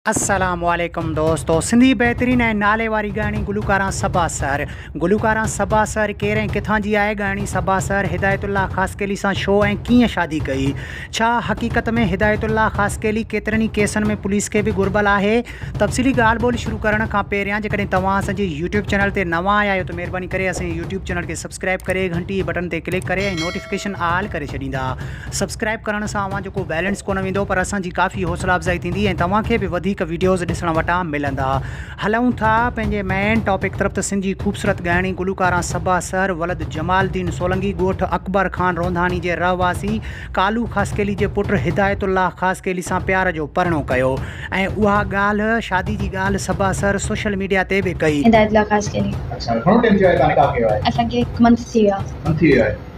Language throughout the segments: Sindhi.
السلام عليڪم دوستو سنڌي بهترين ۽ نالي واري ڳائڻي گلوڪاران صبا سحر گلوڪاران صبا سحر ڪير ۽ ڪٿان جي آهي ڳائڻي صبا سحر هدايت الله خاصخيلي سان ڇو ۽ ڪيئن شادي ڪئي ڇا حقيقت ۾ هدايت الله خاصخيلي ڪيترن ئي ڪيسن ۾ پوليس کي به گهربل آهي تفصيلي ڳالهه ٻولهه شروع ڪرڻ کان پهريان جيڪڏهن توهان اسان جي يوٽيوب چينل تي نوان آيا آهيو ته مهرباني ڪري اسان جي يوٽيوب چينل کي سبسڪرائب ڪري گهنٽي جي بٽن تي ڪلڪ ڪري ۽ نوٽيفڪيشن آل ڪري ڇڏيندا سبسڪرائب ڪرڻ سان اوهان جو ڪو بيلنس ڪونه ويندو پر اسان جي ڪافي حوصلا افزائي ٿيندي ۽ توهان کي به وڌيڪ ويڊيوز ڏسڻ وٽان ملندا هلون ٿا پنهنجي مين ٽاپڪ طرف ته سنڌ جي خوبصورت ڳائڻي گلوڪاران صبا سحر ولد جمال الدين سولنگي ڳوٺ اڪبر خان رونداڻي جي رهواسي ڪالو خاصخيلي جي پٽ هدايت الله خاصخيلي سان پيار جو پرڻو ڪيو ۽ اها ڳالهه شادي جي ڳالهه صبا سحر سوشل ميڊيا تي به ڪئي. هدايت الله خاصخيلي اچا گهڻو ٽيم ٿي ويو آهي تان نڪاح ڪيو آهي اسان کي هڪ منٿ ٿي ويو آهي.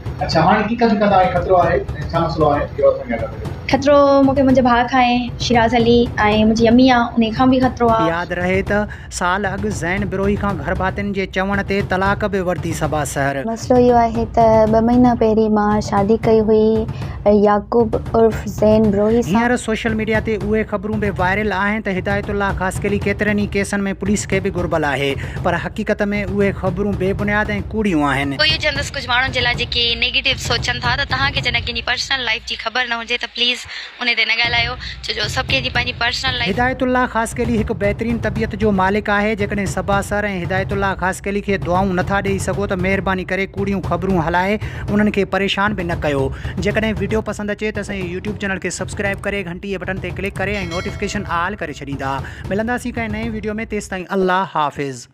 خطرو مون کي منهنجي ڀاء کان آهي شيراز علي ۽ منهنجي امي آ انهي کان به خطرو آ. ياد رهي ته سال اڳ زين بروهي کان گهرڀاتين جي چوڻ تي طلاق به ورتي صبا سحر. مسئلو اهو آهي ته ٻه مهينا پهرين مان شادي ڪئي هئي يعقوب عرف زين بروهي سان. هينئر سوشل ميڊيا تي اهي خبرون به وائرل آهن ته هدايت الله خاصخيلي ڪيترن ئي ڪيسن ۾ پوليس کي به گهربل آهي. پر حقيقت ۾ اهي خبرون بي بنياد ۽ ڪوڙيون آهن. ڪوئيو چوندس ڪجهه ماڻهن جي لاء جيڪي نيگيٽو سوچن ٿا ته توهان کي جڏهن ڪنهن جي پرسنل لائيف جي خبر نه هجي ته پليز انهي تي نه ڳالهايو ڇو جو سڀ ڪنهن جي پنهنجي پرسنل لائيف هدايت الله خاصخيلي هڪ بهترين طبيعت جو مالڪ آهي جيڪڏهن صبا سر ۽ هدايت الله خاصخيلي کي دعائون نه ٿا ڏئي سگهو ته مهرباني ڪري ڪوڙيون خبرون هلائي انهن کي پريشان به نه ڪيو جيڪڏهن ويڊيو پسند اچي ته اسان جي يوٽيوب چينل کي سبسڪرائيب ڪري ٽي بٽن تي ڪلڪ ڪري ۽ نوٽيفڪيشن آل ڪري ڇڏيندا ملنداسين ڪنهن نئين ويڊيو ۾ تيستائين الله حافظ.